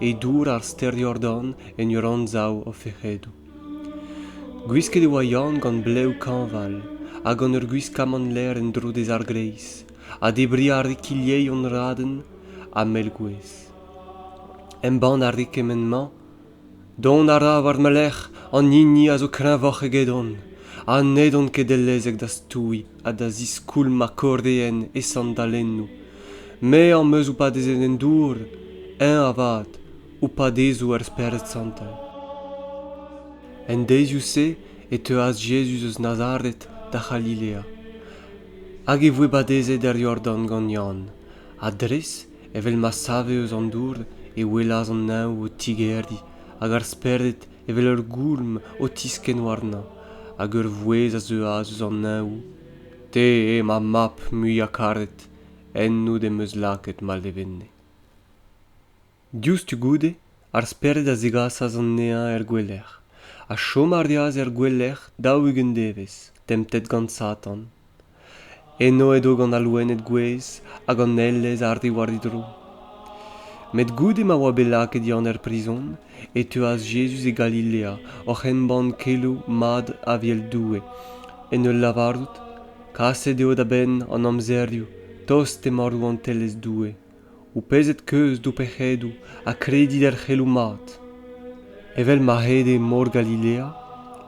e dour ar stêr Jordan en ur anzav o fec'hedoù. Gwisket e oa Yann gant blev kañval ha gant ur gwiskamant ler en-dro dezh ar greiz ha debriñ a rae kilheion raden ha mell-gouez. Embann a rae kement-mañ Dont a ra war ma lerc'h an hini a zo kreñvoc'h egedon ha n'edon ket dellezek da stouiñ ha da ziskoulmañ kordeenn e sandalennoù Me am eus oupadezenn en dour, eñ avat, oupadezoù ar Spered Santel. En deizioù-se e teuas Jezuz eus Nazaret da C'halilea, hag e voe badezet er Yordan gant Yann, ha dres evel ma save eus an dour e welas an neñv o tigeriñ hag ar Spered evel ur goulm o tiskenn warnañ, hag ur vouezh a zeuas eus an neñv te eo ma mab muiañ-karet ennout em eus lakaet ma levenne diouzhtu goude ar spered a zegasas anezhañ er gouelec'h ha chom a reas er gouelec'h daou-ugent devezh temptet gant satan eno edo gant al loened gouez hag an elez a arriu war didro met goude ma oa bet lakaet yann er prizon e teuas Jezuz e Galilea oc'h embann keloù mat Avel Doue, en ul lavarout, Kaset eo da benn an amzerioù tost emañ Rouantelezh Doue. Goupezet keuz d'ho pec'hedoù ha kredit er c'heloù mat. Evel ma ede Mor Galilea,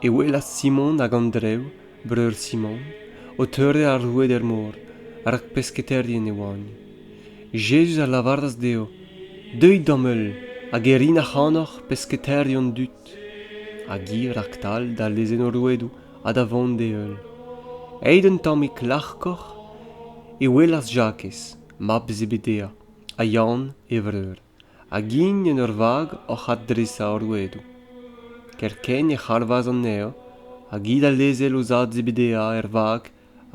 e welas Simon hag Andrev breur Simon, o teurel ar roueed er mor, rak pesketaerien e oant. Jezuz a lavaras dezho, Deuit d'am heul, hag e rin ac'hanoc'h pesketaerion dud. Hag hi raktal da lezenn o rouedoù ha da vont d'e heul. Aet un tammig larkoc'h, e welas Jakez, mab Zebedaia, ha Yann, e vreur. hag int en ur vag oc'h adresañ o rouedoù. Kerkent e c'halvas anezhañ hag hi da lezel o zad Zebedeia er vag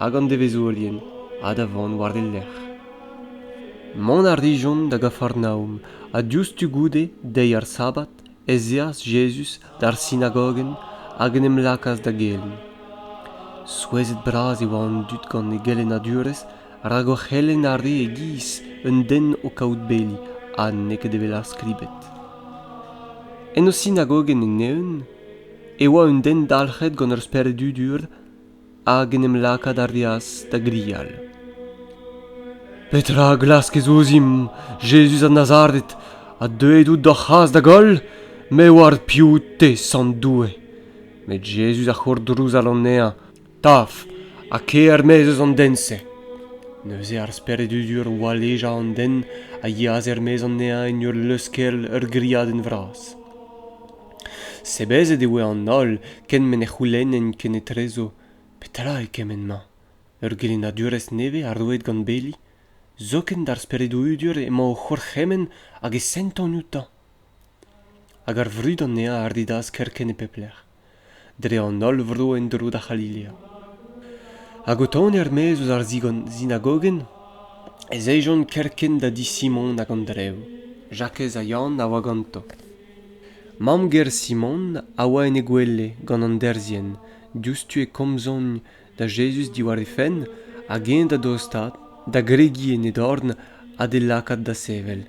hag an devezhourien ha da vont war e lerc'h. Mont a rijont da Gafarnaom ha diouzhtu goude deiz ar sabad ez eas Jezuz d'ar sinagogenn hag en em lakaas da gelenn. Souezhet-bras e oa an dud gant e gelennadurezh rak o c'helenn a rae e-giz un den o kaout beli ha n'eo ket evel ar skribed. En o sinagogenn en-eeun e oa un den dalc'het gant ur spered dudur hag en em lakaat a reas da grial. Petra a glaskez ouzimp, Jezuz a Nazaret, a deuet out d'hor c'has da goll? Me oar piv te, Sant Doue. Met Jezuz a c'hourdrouzal anezhañ, taf, ha ker-maez eus an den-se. Neuze ar speredudur walejañ an den a yeas er-maez anezhañ en ur leuskel ur griadenn vras. Sebezet e voe an holl kent m'en e c'houlennent kenetrezo petra eo kement-mañ ur gelennadurezh nevez ha roet gant beli zoken d'ar speredoù-hudur emañ o c'hourc'hemenn hag e sentan outañ hag ar vrud anezhañ a ridas kerkent e pep lec'h dre an holl vro en-dro da C'halilea. Hag o tont er-maez eus ar sinagogenn, ez ejont kerkent da di Simon hag an drev. Jakez ha Yann a oa ganto. Mamm-ger Simon a oa en he gwele gant an derzhienn, diouzhtu e komzont da Jezuz diwar he fenn hag eñ da dostaat, da gregiñ en e dorn ha d'e lakaat da sevel.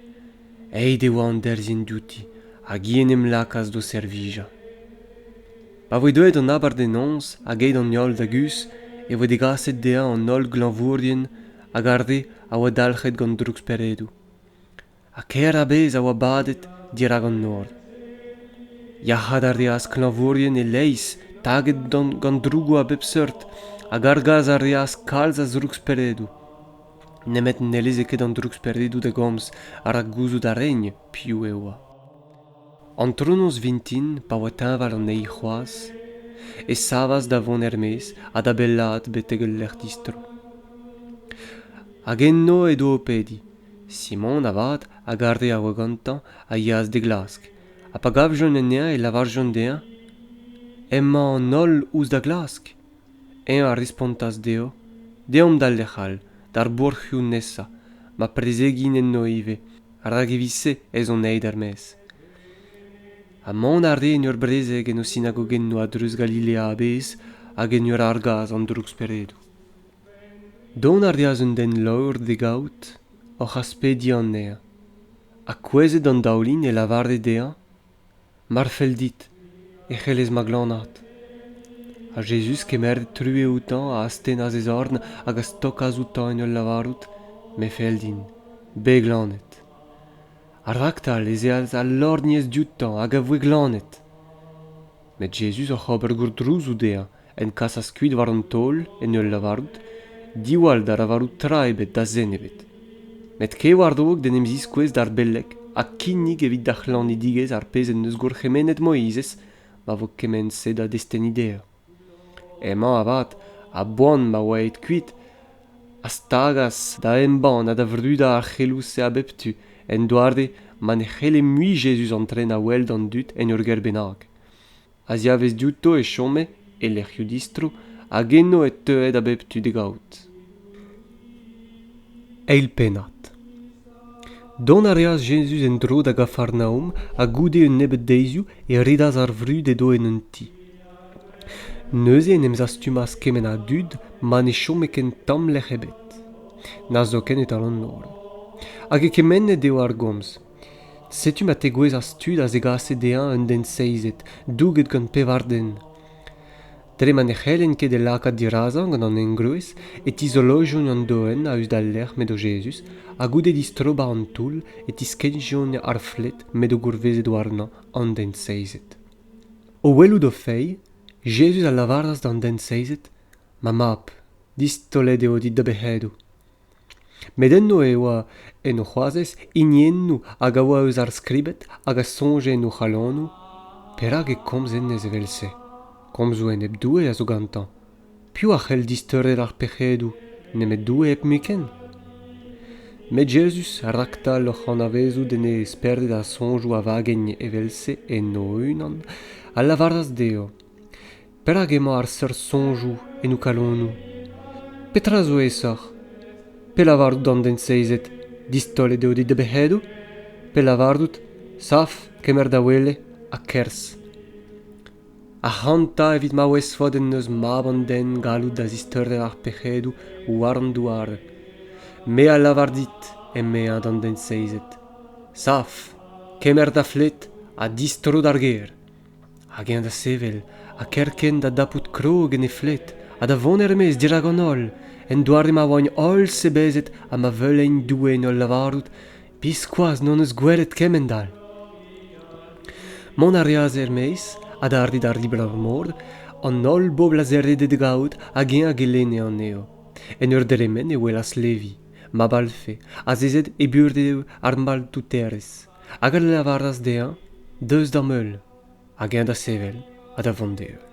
Aet e oa an derzhienn diouti hag hi en em lakaas d'o servijañ. Pa voe deuet an abardaenoz hag aet an holl da guzh e voe degaset dezhañ an holl glañvourien hag ar re a oa dalc'het gant drouksperedoù. Ha kaer a-bezh a oa badet dirak an nor. Yac'haat a reas klañvourien e-leizh taget gant drougoù a bep seurt hag argas a reas kalz a zrouksperedoù. nemet n'elleze ket an drouksperidoù da gomz rak gouzout a rent piv e oa. Antronoz vintin, pa oa teñval anezhi c'hoazh, e savas da vont er-maez ha da bellaat betek ul lec'h distro. Hag enno edo o pediñ. Simon, avat, a garde a oa gantañ, a yeas d'e glask, ha pa gavjont anezhañ e lavarjont dezhañ emañ an holl ouzh da glask. eñ a respontas dezho deomp d'al lec'h all d'ar bourc'hioù nesañ ma prezegiñ enno ivez rak evit-se ez on aet er-maez ha mont a reen ur brezeg en o sinagogennoù a-dreuz Galilea a-bezh hag en ur argas an drouksperedoù dont a reas un den laor d'e gaout oc'h aspediañ anezhañ ha kouezhet an daoulin e lavare dezhañ mar fell dit e c'hellez ma glanaat ha jezuz kemeret true outañ a astennas e zorn hag a stokas outañ en ul lavarout me fell din bet glanet ha raktal ez eas al lorgnez dioutañ hag a voe glanet met jezuz oc'h ober gourdrouzou dezhañ en kasas kuit war an taol en ul lavarout diwall da lavarout tra ebet da zen ebet met kevarzhog d'en em ziskouez d'ar beleg ha kinnig evit da c'hlanidigezh ar pezh en deus gourc'hemennet Moizez ma vo kement-se da destenniñ dezhañ. Emañ avat a-boan ma oa aet kuit a stagas da embann ha da vrudañ ar c'heloù-se a bep tu en doare ma ne c'helle mui Jezuz antren a-wel d'an dud en ur gêr bennak. a-ziavez diouto e chome e lec'hioù distro hag eno e teue da bep tu d'e gaout eil pennad dont a reas jezuz en-dro da gafarnaom ha goude un nebeud deizioù e redas ar vrud edo en un ti neuze en em zastumas kement a dud ma ne chome ken tamm lec'h ebet na zoken e-tal an holl hag e kemennet eo ar gomz Setu ma tegouezhas tud a zegase dezhañ un den seizet, douget gant pevar den. Dre ma ne c'hellent ket e lakaat dirazañ gant an engroez e tizolojont an doenn a-us d'al lec'h m'edo Jezuz, ha goude distrobañ an toull e tiskennjont ar flet m'edo gourvezet warnañ an den seizet. O welout o feilh, Jezuz a lavaras d'an den seizet, Ma mab, distaolet eo dit da bec'hedoù. met enno e oa en o c'hoazez hiniennoù hag a oa eus ar skribed hag a soñje en o c'halonoù perak e komz hennezh evel-se komzoù enep-doue a zo gantañ piv a c'hell disteurer ar pec'hedoù nemet doue hepmuiken met jezuz raktal oc'h anavezout en e sperded ar soñjoù a vagegne evel-se en o-unan a lavaras dezho Perak emañ ar seurt soñjoù en ho kalonoù? Petra zo aesoc'h, pellavarout d'an den seizet distollet eo d'e debec'hedoù, pe lavarout saf kemer da wele ha kerzh? Ac'hanta evit ma ouezfot en deus mab an den gallout da zisteurel ar pec'hedoù war an douar. Me a lavar dit, emezañ d'an den seizet, saf, kemer da fled ha distro d'ar gêr. hag eñ da sevel ha kerkent da dapout krog en he flet ha da vont er-maez dirak an holl en doare ma oaint holl sebezet ha ma veuleint Doue en hol lavarout biskoazh n'hon eus gwelet kement-all. Mont a reas er-maez adarre d'ar riblañ-mor, an holl bobl a zerrede d'e gaout hag eñ a gelenne anezho. En ur dremen e welas Levi, ma balfe, azezet e burev ar maltouterez. hag a lavaras dezhañ deus d'am heul hag eñ da sevel ha da vont d'e heul.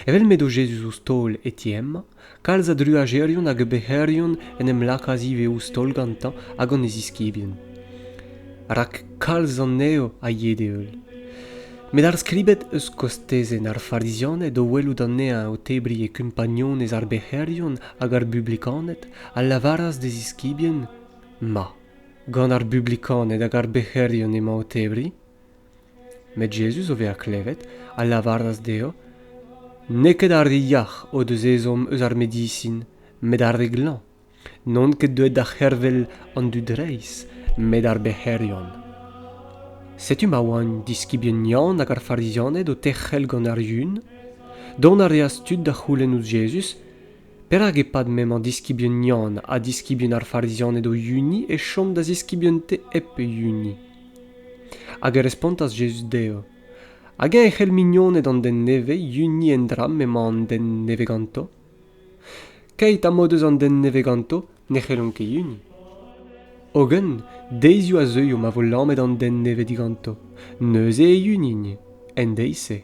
Evel m'edo Jezuz ouzh taol e ti hemañ, kalz a druajerien hag a bec'herion en em lakaas ivez ouzh taol gantañ hag gant e ziskibien, rak kalz anezho a yee d'e heul. Met ar skribed eus kostezenn ar Farizianed o welout anezhañ o tebriñ e kumpagnonezh ar bec'herion hag ar bublikaned a lavaras d'e ziskibien ma Gant ar Bublikaned hag ar bec'herion emañ o tebriñ. Met Jezuz, o vezañ klevet, a lavaras dezho, N'eo ket ar re yac'h o deus ezhomm eus ar medisin, met ar re glañv. N'on ket deuet da c'hervel an dud reizh, met ar bec'herion. Setu ma oant diskibien Yann hag ar Farizianed o terc'hel gant ar Yun. Dont a reas tud da c'houlenn ouzh Jezuz, Perak e-pad m'emañ diskibien Yann ha diskibien ar Farizianed o yuniñ e chom da ziskibien-te hep e yuniñ? Hag e respontas Jezuz dezho, Hag-eñ e c'hell mignoned an den nevez yuniñ en dra m'emañ an den nevez ganto? Keit ha m'o deus an den nevez ganto, ne c'hellont ket yuniñ. Hogen, deizioù a zeuio ma vo lamet an den nevez diganto, neuze e yunint, en deiz-se.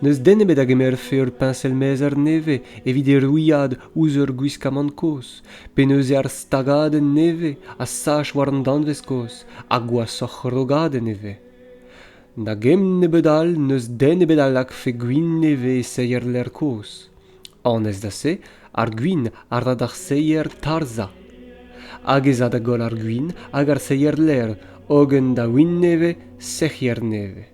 n'eus den ebet a gemerfe ur peñsel-mezher nevez evit e ruilhad ouzh ur gwiskamant kozh pe neuze ar stagadenn nevez a sach war an danvez kozh ha gwashoc'h rogadenn e vez na gemm nebeut all n'eus den ebet a lakfe gwin nevez e seier lec'h kozh annez da se ar gwin a ra d'ar seier tarzhañ hag ez a da goll ar gwin hag ar seier lec'h hogen da win nevez sec'hier nevez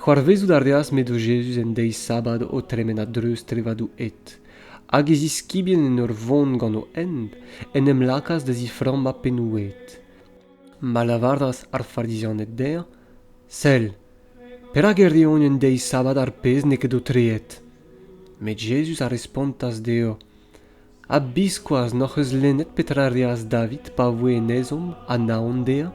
C'hoarvezout a reas m'edo Jezuz en deiz sabad o tremen a-dreuz trevadoù hed, hag e ziskibien en ur vont gant o hent, en em lakaas da ziframmañ pennoù-hed. Ma lavaras ar Farizianed dezhañ, Sell, perak e reont en deiz sabad ar pezh n'eo ket aotreet? Met Jezuz a respontas dezho, Ha biskoazh n'hoc'h eus lennet petra a reas David pa voe en ezhomm ha naon dezhañ,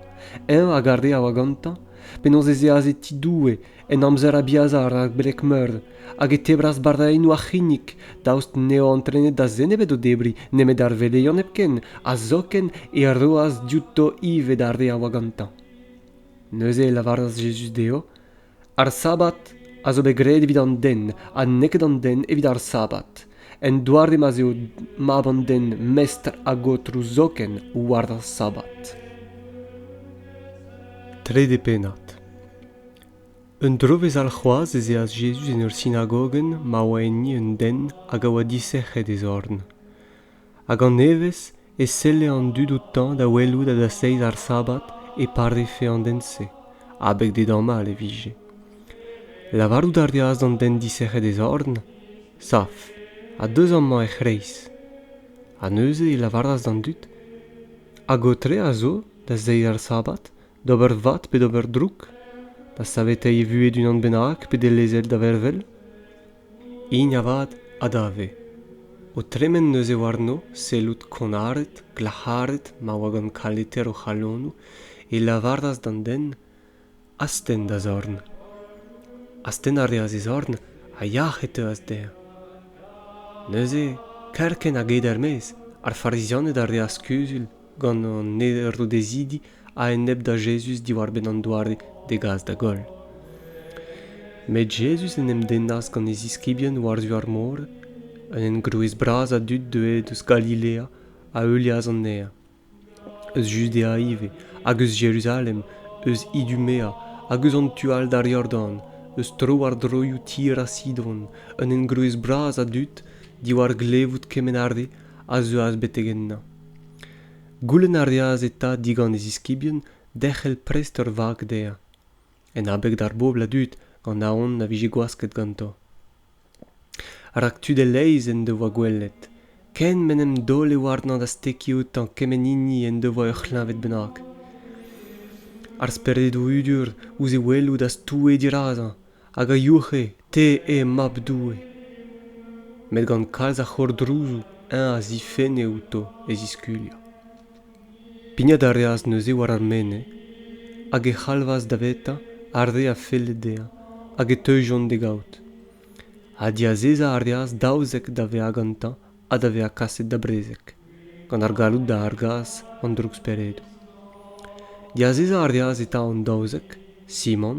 eñ hag ar re a oa gantañ, penaos ez eas e ti Doue en amzer Abiaza rak beleg-meur, hag e tebras barraennoù ar c'hinnig, daoust n'eo antrenet da zen ebet o debriñ nemet ar veleion hepken, ha zoken e roas diouto ivez d'ar re a oa gantañ. Neuze e lavaras Jezuz dezho, ar sabad a zo bet graet evit an den ha neket an den evit ar sabad en doare ma'z eo mab an den mestr hag aotrou zoken war ar sabad trede pennad un drovezh alc'hoazh ez eas Jezuz en ur sinagogenn ma oa enni un den hag a oa disec'het e zorn Hag an evezh e selle an dud outañ da welout a-dasteiz ar sabad e parife an den-se abeg d'e damall e vije. Lavarout a reas d'an den disec'het e zorn Saf, ha deus amañ er c'hreiz. Ha neuze e lavaras d'an dud Hag ho tre a zo, da zeiz ar sabad, d'ober vat pe d'ober drouk, da saveteiñ e vuhez d'unan bennak pe d'e lezel da vervel? hini avat a dave o tremen neuze warno sellout konnaret glac'haret ma oa gant kaleter o c'halonoù e lavaras d'an den astenn da zorn astenn a reas e zorn ha yac'h e teuas dezhañ neuze kerkent hag ed er-maez ar farizianed a reas kuzul gant an erodezidi a-enep da Jezuz diwar-benn an doare d'e gas da goll. Met Jezuz en em dennas gant e ziskibien war-zu ar mor, un engroez bras a dud deuet eus Galilea a heulias anezhañ, eus Judea ivez, hag eus Jeruzalem, eus Idumea, hag eus an tu all d'ar Yordan, eus tro-war-droioù tir ha Sidon, un engroez bras a dud, diwar glevout kement a re, a zeuas betek ennañ. Goulenn a reas eta digant e ziskibien derc'hel prest ur vag dezhañ, en abeg d'ar bobl a dud gant aon na vije gwasket ganto. Rak tud e-leizh en devoa gwelet, ken m'en em daole warnañ da stekiñ outañ kement hini en devoa ur c'hleñved bennak. Ar speredoù hudur ouzh e welout a stoue dirazañ hag a youc'he te eo mab Doue. Met gant kalz a c'hourdrouzoù eñ a zifenne outo e ziskuliañ. Pignat a reas neuze war ar mene hag e c'halvas davetañ ar re a felle dezhañ hag e teujont d'e gaout. Ha diazezañ a reas daouzek da vezañ gantañ ha da vezañ kaset da brezeg, gant ar galloud da argas an drouksperedoù. Diazezañ a reas eta an daouzek, Simon,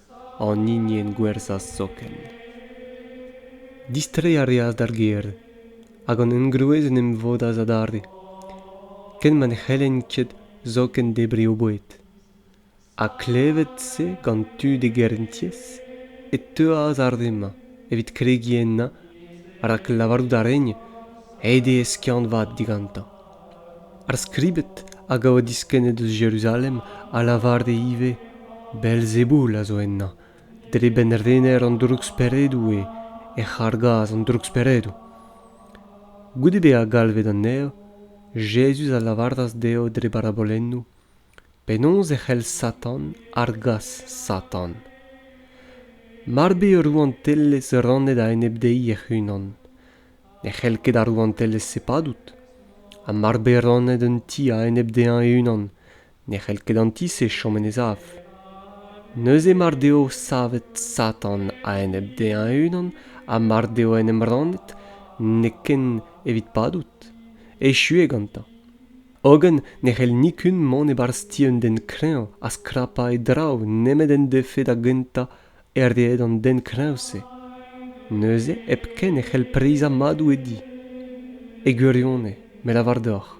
an hinienn gwerzhañ soken. Distreiñ a reas d'ar gêr, hag an engroez en em vodas adarre, ken ma ne c'hellent ket zoken debriñ o boued. Ha klevet-se gant tud e gerentiez, e teuas ar re-mañ evit kregiñ ennañ rak lavarout a raent aet eo skiant-vat digantañ. Ar skribed hag a oa diskennet eus Jeruzalem a lavare ivez Beelzeboul a zo ennañ, dre benn-rener an drouksperedoù eo ec'h argas an drouksperedoù. Goude bezañ galvet anezho, Jezuz a lavaras dezho dre barabolennoù penaos e c'hell Satan argas Satan. Mard eo rouantelezh rannet a-enep dezhi hec'h-unan, Ne c'hell ket ar rouantelezh-se padout, ha mar bez rannet un ti a-enep dezhañ e-unan ne c'hell ket an ti-se chom en e sav. Neuze mar deo savet Satan a-enep dezhañ e-unan ha mar deo en em rannet, n'eo ken evit padout. Echu eo gantañ. Hogen ne c'hell nikun mont e-barzh ti un den kreñv ha skrapañ e draoù nemet en defe da gentañ Erdaet an den kreñv-se neuze hepken e c'hell preizhañ madoù e di. E gwirionez, me lavar deoc'h,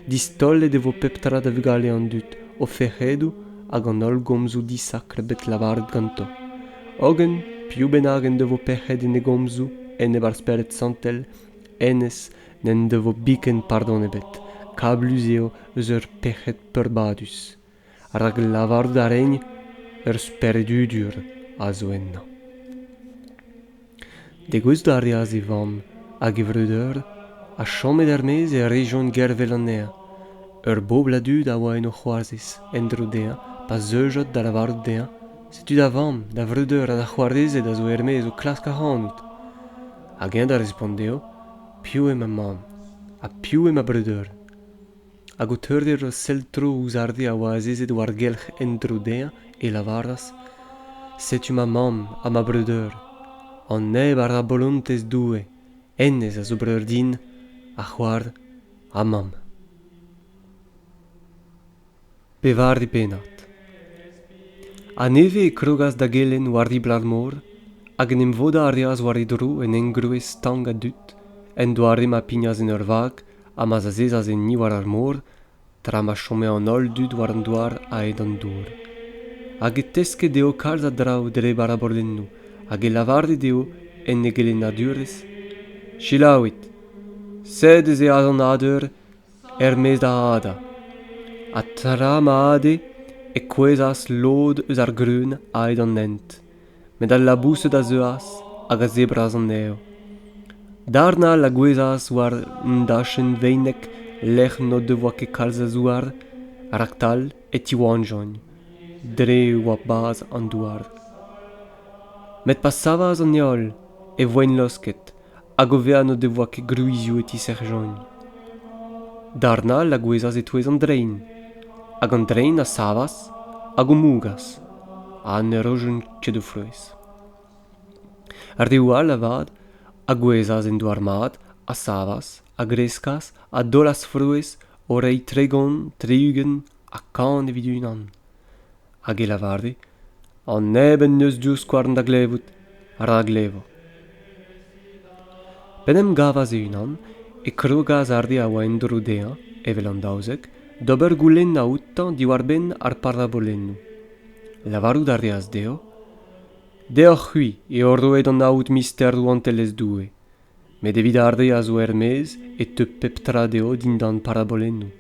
distollet e vo pep tra da vugale an dud, o fec'hedoù hag an holl gomzoù disakr bet lavaret ganto. Hogen, piv bennak en devo pec'hed en e gomzoù, en e barzh-spered santel, hennezh n'en devo biken pardon ebet. Kablus eo eus ur pec'hed peurbadus. rak lavarout a rin ur speredudur a zo ennañ. Degoust a reas e vamm hag e vreudeur ha chomet er-maez e rejont gervel anezhañ. Ur bobl a dud a oa en o c'hoazez en-dro dezhañ pa zeujont da lavarout dezhañ setu da vamm, da vreudeur ha da c'hoarezed a zo er-maez o klask ac'hanout. Hag eñ da respont dezho piv eo ma mamm ha piv eo ma breudeur. Hag o teurdeñ ur sell-tro ouzh ar re a oa azezet war-gelc'h en-dro dezhañ, e lavaras: Setu ma mamm ha ma breudeur. An neb a ra bolontez Doue, hennezh a zo breur din, ha c'hoar ha mamm. Pevare pennad. Ha nevez e krogas da gelenn war ribl ar mor hag en em vodañ a reas war e dro un engroez stank ha dud, en doare ma pignas en ur vag ha ma zazezas enni war ar mor, tra ma chome an holl dud war an douar a-hed an dour. Hag e teske dezho kalz a draoù dre barabordennoù hag e lavare dezho, en e gelennadurezh, Selaouit! Sed ez eo azañadur er-maez da adañ ha tra ma ade e kouezhas lod eus ar greun a-hed an hent met al laboused a zeuas hag a zebras anezho darn-all a gouezhas war un dachenn veinek lec'h n'o devoa ket kalz a zouar raktal e tiwalljont dre e oa bazh an douar met pa savas an heol e voent laosket hag o vezañ n'o devoa ket gwrizioù e ti Serjeant. Darn all a gouezhas e-touez an drein, hag an drein a savas hag o mougas, ha ne rojent ket o frouezh. Reoù all avat a gouezhas en douar mat, a savas, a greskas, a daolas frouezh o reiñ tregont, tri-ugent ha kant evit unan. hag e lavare an neb en deus divskouarn da glevout ra glevo. P'en em gavas e-unan e krogas ar re a oa en-dro dezhañ, evel an daouzek, d'ober goulennañ outañ diwar-benn ar parabolennoù. Lavarout a reas dezho, Deoc'h-c'hwi eo roet an aod mister Rouantelezh Doue, met evit ar re a zo er-maez e teu pep tra dezho dindan parabolennoù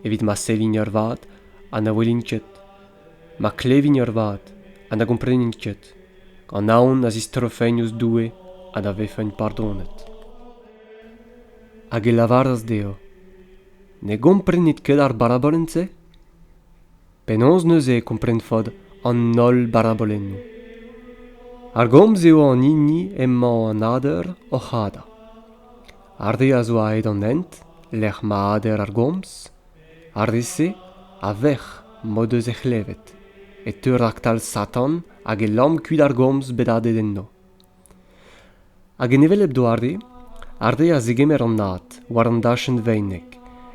evit ma sevint ervat ha na welint ket ma klevint ervat ha na gomprenint ket an aon a zistrofent ouzh Doue ha da vefent pardonet hag e lavaras dezho ne gomprenit ket ar barabolenn-se Penaos neuze e komprenfot an holl barabolennoù? Ar gomz eo an hini emañ an ader oc'h adañ. Ar re a zo aet an hent, lec'h ma ader ar gomz, ar re-se a vec'h m'o deus he c'hlevet, e teu raktal Satan hag e lamm kuit ar gomz bet adet enno. Hag en hevelep doare, ar re a zegemer an ad war an dachenn veinek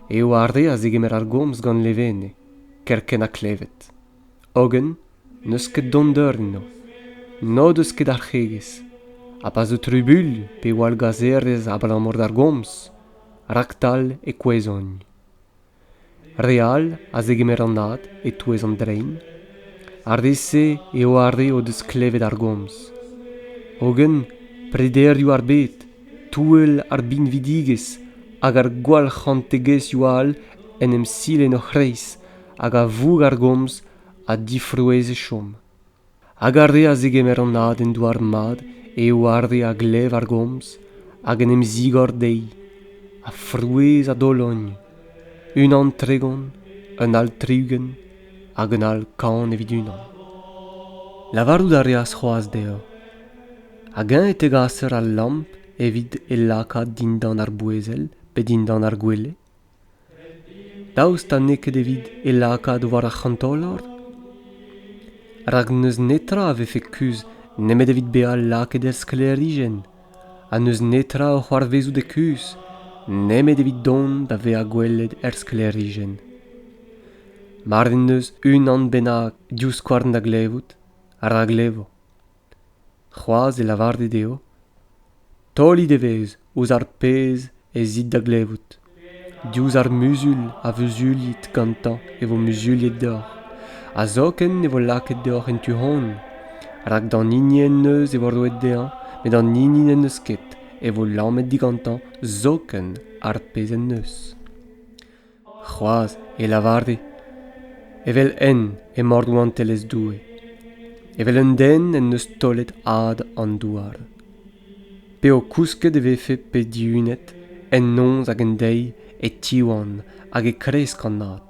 eo ar re a zegemer ar gomz gant Levene, kerkent ha klevet. Hogen n'eus ket dondeur enno, n'o deus ket arc'hegezh, ha pa zo trubuilh pe wallgazherezh abalamour d'ar gomz, raktal e kouezhont. Re all a zegemer anat e-touez an drein, ar re-se eo ar re o deus klevet ar gomz. Hogen prederioù ar bed, touell ar binvidigezh hag ar gwallc'hantegezhioù all en em sil en o c'hreiz hag a voug ar gomz a difrouezh e chom. Hag ar re a zegemer an aden douar-mat eo ar re a glev ar gomz hag en em zigor dezhi, ha frouezh ha dologn, unan tregont, un all tri-ugent hag un all kant evit unan. Lavarout a reas c'hoazh dezhañ, hag-eñ e tegaser al lamp evit e lakaat dindan ar boezel pe dindan ar gwele. Daoust ha n'eo ket evit e lakaat war ar c'hantolor? Rak n'eus netra a vefe kuzh nemet evit bezañ lakaet er sklêrijenn, ha n'eus netra o c'hoarvezout e kuzh nemet evit dont da vezañ gwelet er sklêrijenn. Mar en deus unan bennak divskouarn da glevout, ra glevo. C'hoazh e lavare dezho taolit evezh ouzh ar pezh ez it da glevout. Diouzh ar muzul a vuzuliit gantañ e vo muzuliet deoc'h, ha zoken e vo lakaet deoc'h en tu-hont, rak d'an hini en deus e vo roet dezhañ, met d'an hini n'en deus ket e vo lamet digantañ zoken ar pezh en deus. C'hoazh e lavare evel-henn emañ Rouantelezh Doue, evel un den en deus taolet ad an douar, p'eo kousket e vefe bet dihunet en noz hag en deiz e tiwan hag e kresk an ad.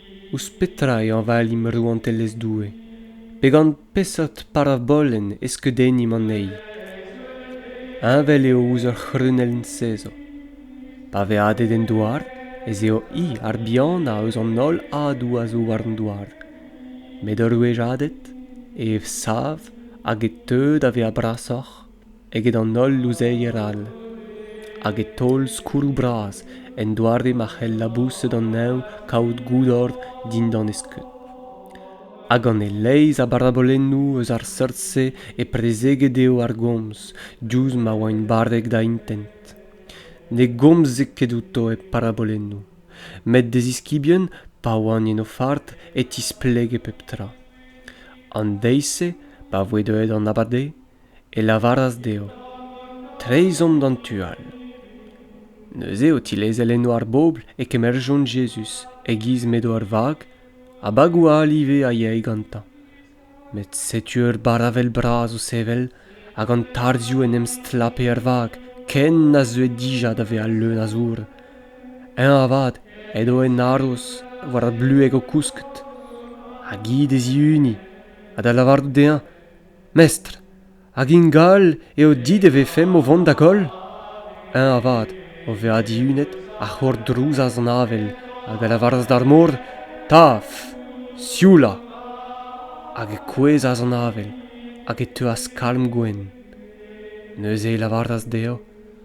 Ouzh petra e hañvalimp Rouantelezh Doue? Pe gant peseurt parabolenn e skeudennimp anezhi? Heñvel eo ouzh ur c'hrunell sezo. Pa vez adet en douar ez eo hi ar bihanañ eus an holl adoù a zo war an douar. Met ur wech adet e ev sav hag e teu da vezañ brasoc'h eget an holl louzeier all hag e taol skourroù bras en doare ma c'hell laboused an neñv kaout goudor dindan e skeud hag gant e-leizh a barabolennoù eus ar seurt-se e prezeget eo ar gomz diouzh ma oaint barrek da intent ne gomze ket outo e parabolennoù met d'e ziskibien pa oant en o fard e tisplege pep tra an deiz-se pa voe deuet an abade e lavaras dezho treizh omp d'an tu all. Neuze, o tilezel enno ar bobl, e kemerjont Jezuz e-giz m'edo ar vag, ha bagoù all ivez a yae gantañ. Met setu ur baravel bras o sevel, hag an tarzhioù en em stlape er vag, ken na zeue dija da vezañ leun a zour. Eñ avat edo en haroz, war ar blueg o kousket, hag hi d'e zihuniñ, ha da lavarout dezhañ Mestr, hag ingal eo dit e vefemp o vont da goll? Eñ avat, o vezañ dihunet, a c'hourdrouzas an avel hag a lavaras d'ar mor taf, sioulañ. Hag e kouezhas an avel hag e teuas kalm gwenn. Neuze e lavaras dezhañ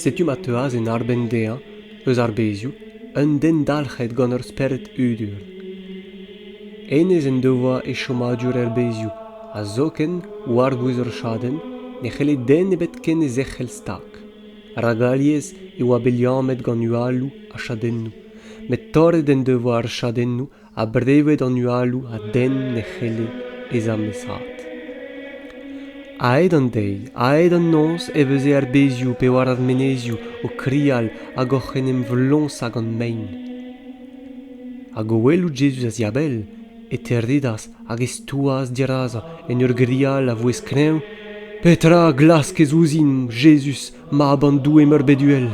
Setu ma teuas en arbenn dezhañ, eus ar bezioù, un den dalc'het gant ur spered hudur. Hennezh en devoa e chomadur er bezioù, ha zoken, war-bouez ur chadenn, ne c'helle den ebet ken e zerc'hel stag. Rak alies e oa bet liammet gant hualoù ha chadennoù, met torret en devoa ar chadennoù ha brevet an hualoù a denn ne c'helle bezañ mesaet. A-hed an deiz, a-hed an noz e veze ar bezioù pe war ar menezioù o krial hag oc'h en em vloñsañ gant mein. Hag o welout Jezuz a-ziabell, e terridas hag e stouas dirazañ en ur grial a vouezh kreñv, Petra a glaskez ouzhin, Jezuz, Mab an Doue meurbet uhel,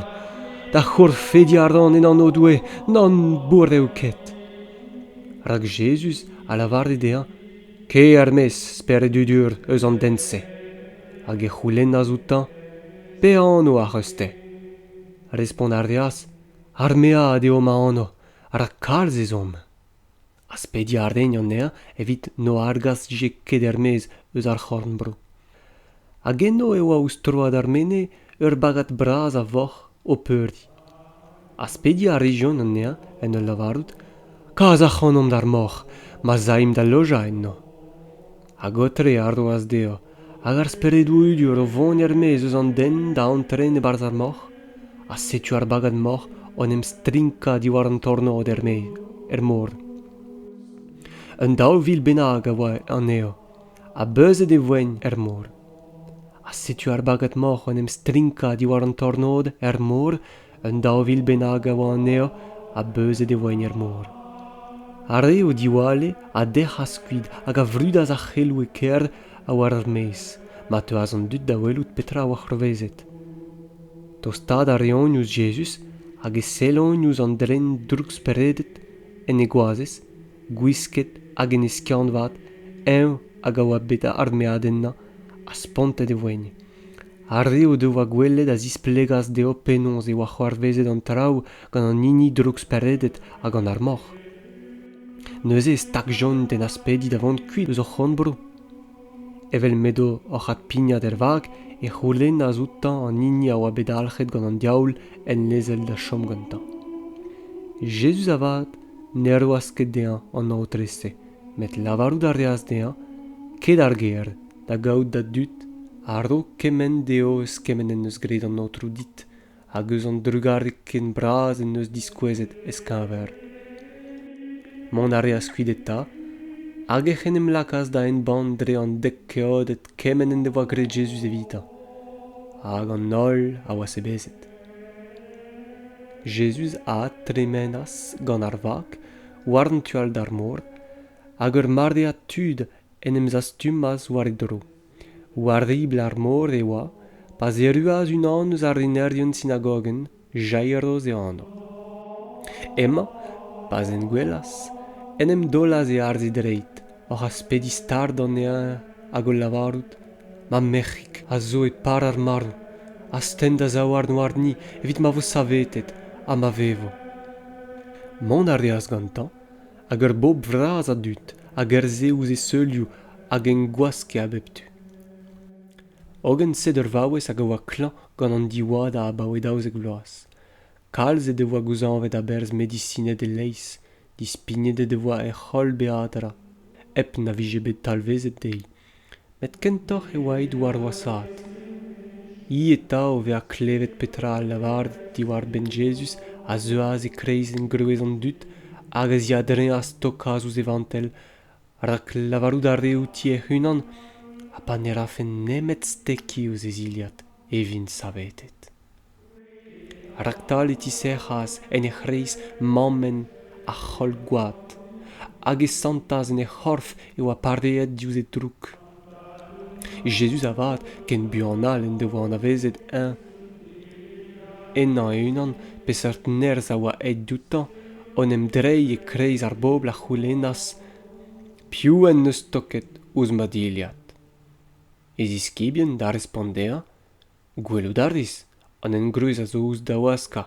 da c'hourfediañ a ran en anv Doue nann bourr eo ket. Rak Jezuz a lavare dezhañ Kae er-maez, spered dudur, eus an den-se. Hag e c'houlennas outañ Pe anv ac'h eus-te? Respont a reas Ar mead eo ma anv, rak kalz ez omp. aspediañ a raent anezhañ evit n'o argas dije ket er-maez eus ar c'horn-bro. Hag eno e oa ouzh troad ar mene ur bagad bras a voc'h o peurdi. Aspediañ a rejont anezhañ en ul lavarout: Kas ac'hanomp d'ar moc'h, ma'z aimp da lojañ enno. Hag aotre a roas dezhañ, hag ar speredoù udur o vont er-maez eus an den da antren e-barzh ar moc'h, ha setu ar bagad-moc'h o'n em strinkañ diwar an tornod er-maez, er mor. Un daou vil bennak a oa anezho, ha beuzet e voent er mor. Ha setu ar bagad-moc'h o'n em strinkañ diwar an tornod er mor Un daou vil bennak a oa anezho ha beuzet e voent er mor. Ar re o diwalle a dec'has kuit hag a vrudas ar c'heloù e kêr ha war ar maez ma teuas an dud da welout petra a oa c'hoarvezet. Tostaat a reont ouzh Jezuz hag e sellont ouzh an dren drouksperedet en e goazez, gwisket hag en e skiant-vat, eñ hag a oa bet armeadennañ ha spontet e voent. ar re o devoa gwelet a zisplegas dezho penaos e oa c'hoarvezet an traoù gant an hini drouksperedet ha gant ar moc'h neuze e stagjont en aspediñ da vont kuit eus o c'honbro evel m'edo oc'h adpignat er vag e c'houlennas outañ an hini a oa bet dalc'het gant an diaoul en lezel da chom gantañ jezuz avat ne roas ket dezhañ an aotre-se met lavarout a reas dezhañ ket ar gêr da gaout da dud a-raok kemenn dezho eus kement en deus graet an aotrou dit hag eus an drugarez ken bras en deus diskouezet ez-keñver. Mont a reas kuit eta, hag ec'h en em lakaas da embann dre an dek keoded kement en devoa graet Jezuz evitañ, hag an holl a oa sebezet. Jezuz a tremenas gant ar vag war an tu all d'ar mor, hag ur maread tud en em zastumas war e dro. War ribl ar mor e oa pa'z erruas unan eus ar renerien sinagogenn, Jairos e anv. Hemañ, pa'z en gwelas, en em daolas e arz e dreid, oc'h aspediñ stard anezhañ hag o lavarout, Ma merc'hig a zo e par ar marv, astenn da zaouarn warni evit ma vo savetet ha ma vevo. Mont a reas gantañ hag ur bobl vras a dud hag ur se ouzh e seulioù hag en gwaske a bep tu hogen sed ur vaouez hag a oa klañv gant an diwadañ abaoe daouzek vloaz kalz he devoa gouzañvet a-berzh medisined e-leizh dispignet he devoa hec'h holl beadra hep na vije bet talvezet dezhi met kentoc'h e oa he douar-voasaat hi eta o vezañ klevet petra al lavaret diwar-benn jezuz a zeuas e-kreiz engroez an dud hag a ziadreas tokaat ouzh e vantell rak lavarout a rae outi hec'h-unan ha pa ne rafen nemet stekiñ ouzh e zilhad e vin savetet Raktal e tisec'has en he c'hreiz mammenn ar c'holl-gwad hag e santas en he c'horf e oa pareet diouzh he droug. Jezuz avat, ken buan all en devoa anavezet eñ henañ e-unan peseurt nerzh a oa aet dioutañ, en em dreiñ e-kreiz ar bobl a c'houlennas piv en deus stoket ouzh ma dilhad. E ziskibien da respont dezhañ Gwelout a ris an engroez a zo ouzh dawaskañ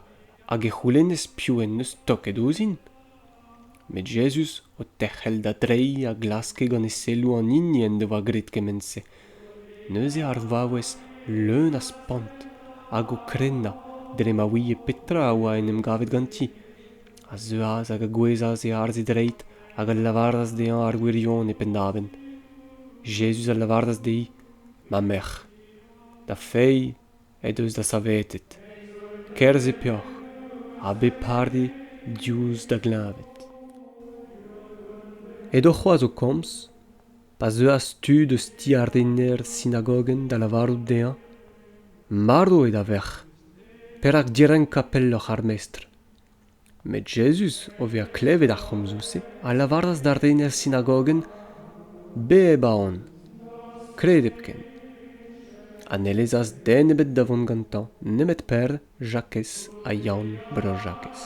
hag e c'houlennez piv en deus toket ouzhin. Met Jezuz, o terc'hel da dreiñ, a glaske gant e selloù an hini en devoa graet kement-se. Neuze ar vaouez leun a spont hag o krennañ dre ma ouie petra a oa en em gavet ganti, a zeuas hag a gouezhas e arz e dreid hag a lavaras dezhañ ar wirionez e penn-davenn. Jezuz a lavaras dezhi, Ma merc'h. da fae he deus da savetet kerzh e peoc'h ha bep pare diouzh da gleñved. Edo c'hoazh o komz pa zeuas tud eus ti ar rener sinagogenn da lavarout dezhañ marv eo da verc'h perak direnkañ pelloc'h ar mestr. Met Jezuz, o vezañ klevet ar c'homzoù-se, a lavaras d'ar rener sinagogenn Bep a on, kredep ken. Ha ne lezas den ebet da vont gantañ nemet Per, Jakez ha Yann Bro-Jakez.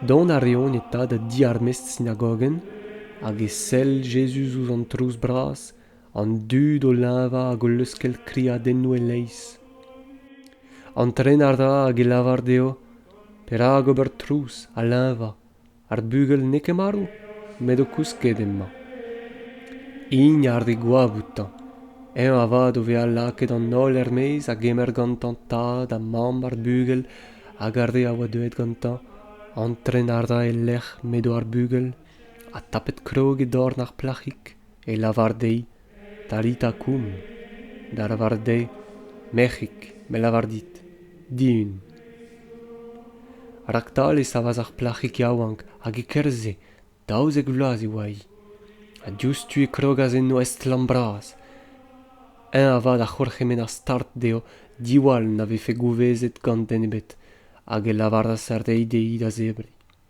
Dont a reont eta da di ar mestr sinagogenn hag e sell Jezuz ouzh an trouz bras an dud o leñvañ hag o leuskel kriadennoù e-leizh. Antren a ra hag e lavar dezho perak ober trouz ha leñvañ. Ar bugel n'eo ket marv, met o kousket emañ. Int a re goap outañ. Eñ avat o vezañ lakaet an holl er-maez a gemer gantañ tad ha mamm ar bugel hag ar re a oa deuet gantañ. Antren a ra e-lec'h m'edo ar bugel ha tapet krog e dorn ar plac'hig. e lavar dezhi talita koum da lavaret dezhi merc'hig me lavar dit dihun raktal e savas ar plac'hig yaouank hag e-kerzh-se daouzek vloaz e oa-hi ha diouzhtu e krogas enno estlamm bras eñ avat a c'hourc'hemenn ar start dezho diwall na vefe gouvezet gant den ebet hag e lavaras er deiz dezhi da zebriñ